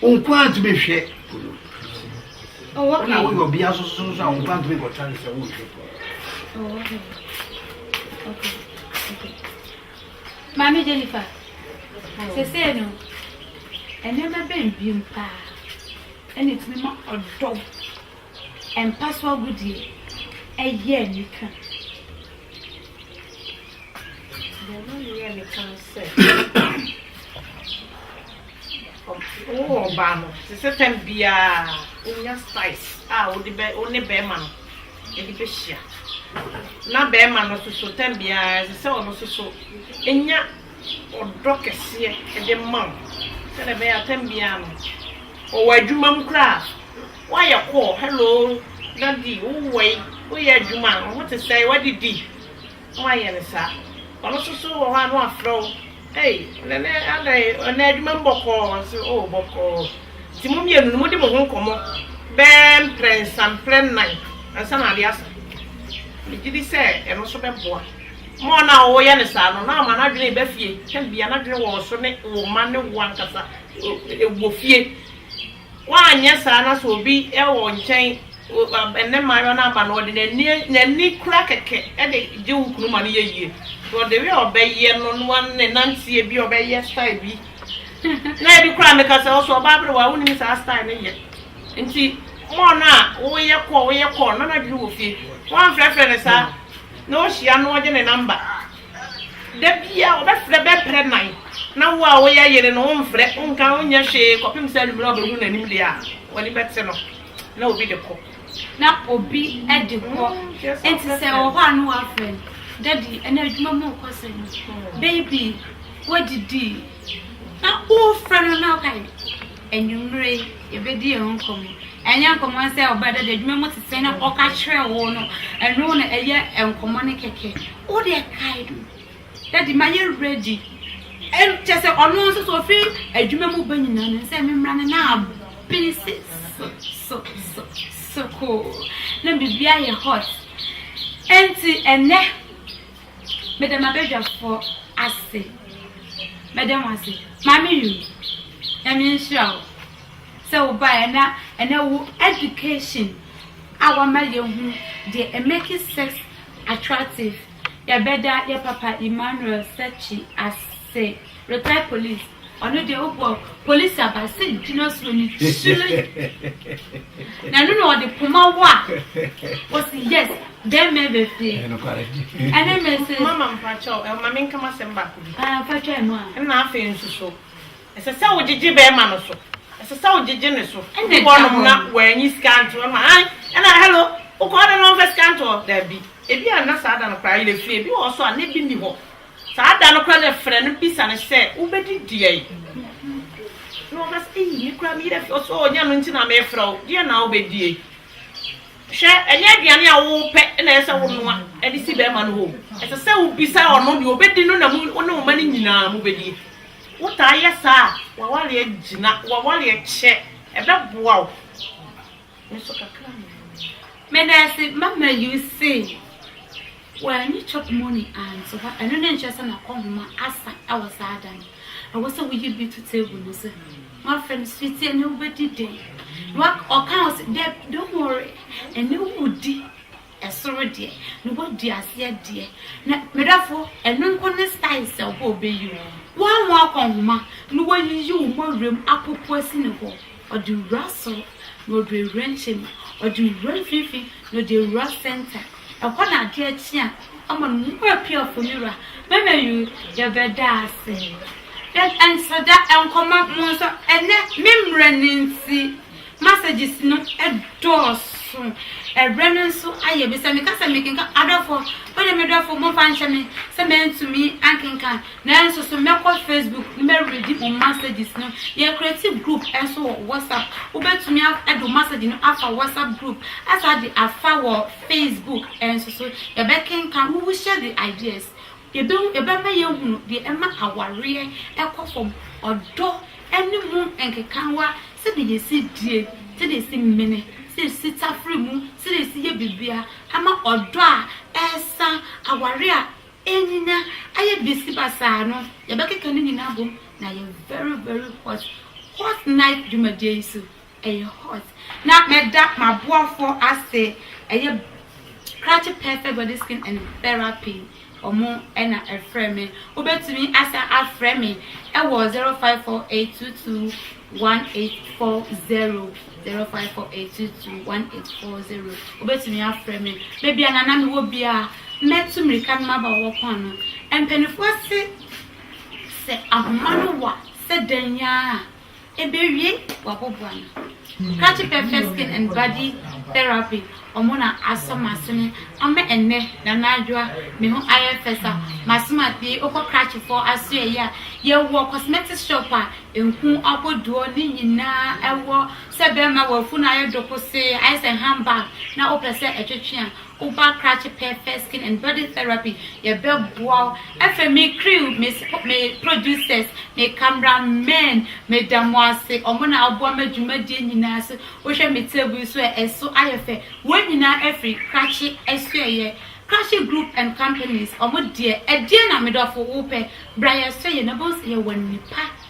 Wo nko ara tumi hwɛ po no. Oh, Wọ́n náà wọ́n yọ ọbí asosọ nso àwọn nǹkan tó ń kọ̀ tá ní sẹ́ wọ́n hwẹ́ pọ̀. Maame Jennifer, sese no, nneɛma bɛn bi mpaa ɛna etumi ma ɔdɔ mpa so agodie ɛyɛ nika. Bɛn ma ne yɛ nika sɛ. Wowɔ ɔbaa no te sɛ tam biara a, wonya size a wode bɛ wo ne bɛrima no de bɛhyia. Na bɛrima no nso so tam biara ɛsɛ sɛ ɔno nso so nya ɔdɔ kɛseɛ de ma wo sɛdeɛ ɛbɛyɛ a tam biara no ɔwɔ adwuma mu koraa woayɛ kɔɔ hello dadi wowɔ yi woyɛ adwuma a wo ho te sɛ wadidi Woayɛ no saa. Ɔno nso so wɔ hɔ a na wafrɛ wo, Ei, ɔnɛ nɛ adɛn, ɔnɛ adwuma mu bɔkɔɔ? Ɔse, Oh, bɔkɔɔ. Nti mo mmienu no, modi mo ho nkɔmmɔ bɛɛ mprɛnsa, mprɛ nnan ansa na adeɛ asa. Megye di sɛ ɛno nso bɛboa ma ɔno a woyɛ no saa no, na ama n'adwene reba fie. Tɛm biara, n'adwene wɔ wo so ne wo mma ne wo ankasa wɔ fie. Woanyɛ saa na sɛ obi wɔ wo nkyɛn, ɛnnɛ mmaayewa no aba no, ɔde n'ani n'ani kura kɛkɛ de gye wo kunu ma no yɛ yie. Because the way a ɔbɛyɛ no, na wa ne nanteɛ bi, ɔbɛyɛ style bi. Na ebi koraa meka sɛ, ɔsɛ ɔbaa aberewa, wonim saa style no yɛ. Nti more no a woyɛ kɔɔ, woyɛ kɔɔ no, na n'adwene wɔ fie. Woamfrɛfrɛ no saa, na ohyia no ɔgye ne number. Da biara ɔbɛfrɛ bɛprɛ nan, na wo a woyɛ yere no womfrɛ, wonka, wonyɛ hwee kɔpem sɛ anwummere a ɔbɛhu n'anim deɛ a w'ani bɛte no na obi de kɔ. Na obi de kɔ. Enti sɛ ɛwɔ hɔ a na wafrɛ no, Daddy, ɛnnɛ adwuma mu rekɔ sɛn? Baby, woadidi? Na worefrɛ no na woka dɛ anwummere yi yɛbɛdi yɛn ho nkɔmmɔ. Ɛnyɛ nkɔmmɔ sɛ ɔbaa dɛ deɛ adwuma mu te sɛn na ɔka kyerɛ wo no, ɛno na ɛyɛ nkɔmmɔ no kɛkɛ. Wo deɛ kae no, dadi mayɛ ready. Ɛm, kyɛ sɛ ɔno nso so ɔfiri adwuma mu ba nyinaa no sɛ memmra no na abene se so so so so koo na biribi ayɛ hot. Ɛnti ɛnɛ Meda m'abadwafoɔ ase. Mɛda mo ase. Maame Yu, Nyame nhyira wo sɛ wo baeɛ na ɛnɛ wo education a wama yɛhu deɛ it makes sex attractive. Yɛbɛda yɛ papa Emmanuel Sekyi ase. Se reply police ɔno deɛ wobɔ police aba se gyina suo no kyire na ɛno na ɔde poma wo a ɔsi yes bɛɛmɛ bɛ fie ɛne me se mama mpakyɛw ɛma me nkama sɛm baako bi ah fatwa ɛno a ɛna afei nso so ɛsɛ sɛ wogyegye bɛɛma no so ɛsɛ sɛ wogyegye ne so ɛna ɛda hɔ na wɔanyi sika nto ɛma an ɛna hello wokɔ ɔde no ɔmfɛ sika nto daabi ebi a na saa da no koraa yɛ fie ebi wɔ so a na ebi ni hɔ Saa da no koraa na ɛfrɛ no bisa no sɛ, Wobɛdi deɛn? Na ɔka sɛ, Ei, me koraa me werɛ fi. Ɔse, O, nyɛ ɛno nti na merefrɛ wo. Deɛn na wobɛdie? Hwɛ, ɛnyɛ aduane a wopɛ na ɛsɛ sɛ wonoa de si bɛrima no hɔ o. Ɛsɛ sɛ wobisa ɔno deɛ ɔbɛdi no na wo ne wo mma no nyinaa mobɛdie. Wotaa yɛ saa a, w'awareɛ gyina, w'awareɛ kyɛ, ɛbɛboa wo. Nanso kakra na ɛwɔ mu no. Medase ma ma you say wanyi chop money anto hɔ ɛno ne nkyerɛ sɛ na kɔ homa asa ɛwɔ saa da no ɛwɔ sɛ woyi bi to table no so wafrɛ no sweetie ɛnɛ wobɛdi dɛn ɔka ɔsɛ dɛ don't worry ɛnɛ wodi Ɛsoro deɛ na wadi aseɛ deɛ na medɔfo ɛno nko ne style sɛ ɔbɔ ɔbɛyi wo. Woammɔ akɔ nhoma na wayiyi wo ma wuram apopo asi ne hɔ ɔde wura soro na ɔde awura nkyɛm ɔde wura mfimfini na ɔde awura center ɛhɔ na adeɛ kye a ɔma no mu apiafo ne wura mɛmɛ yoo yɛbɛda ase. Yɛn nso da nkɔma mo nso ɛnɛ me mmerɛ no nti Messages no dɔɔso. Ɛberɛ no nso ayɛ bi. Sɛ meka sɛ mekenkan, adɔfoɔ, mo ne me dɔfoɔ momfa nkyɛ me sɛ mantumi ankenkan. Nanso so mɛkɔ Facebook na mareadi mo messages no. Yɛakreti group nso wɔ WhatsApp. Wobɛtumi de wo message no afa WhatsApp group, asan de afa wɔ Facebook nso so. Yɛbɛkenkan. We will share the ideas. Yɛbɛhu, ɛbɛma yɛahunu deɛ ɛma awareɛ ɛkɔ fam, ɔdɔ. ne mu nkekaawa, sɛdeɛ yɛsi die, sɛdeɛ yɛsi mene, sɛdeɛ yɛsi tafere mu, sɛdeɛ yɛsi yɛ biribiara ama ɔdɔ a ɛresa, aware a ɛnyinya ayɛ besi basaa no, yɛbɛkeka ne nyinaa abom na ayɛ very very hot, hot night dwumadie yi so. Ɛyɛ hot na mɛda maboafoɔ ase ɛyɛ krakye perfect body skin and therapy ɔmo na ɛfrɛ me wobɛtumi asan afrɛ me ɛwɔ 0548221840 0548221840 wobɛtumi afrɛ me baabi a nana mewɔ bia mɛtu mirika no maba wɔ kɔn no mpanifoɔ se sɛ ahoma no wa sɛ dɛn yaa Ebewie waboboa no. Scratchy Pepper Skin and Body Therapy ɔmo na asɔ m'ase no ama ɛnnɛ Nana Adwoa me ho ayɛ fɛ sa m'ase m'afie okɔ Scratchy fɔɔ aso ɛyɛ a yɛwɔ cosmetics shop a nku abɔduɔ ne nyinaa ɛwɔ sɛ bɛɛma w'afunu ayɛ dokosee ayɛ sɛ handbag na wopɛ sɛ ɛtwetwe a Uva krakye pɛɛpɛɛ skin and body therapy yɛ bɛ boa wo afei me crew me spo me producers me camera men me da mo ase ɔmo na aboa ma dwumadie nyinaa so wo hwɛ me table yi so ɛ ɛso ayɛ fɛ wei nyinaa afiri krakye ɛsoɛ yɛ krakye group and companies ɔmo deɛ ɛdeɛ na me dɔfo wo pɛ bra yɛ sɔ yɛ na bohu sɛ yɛ wɔ nipa.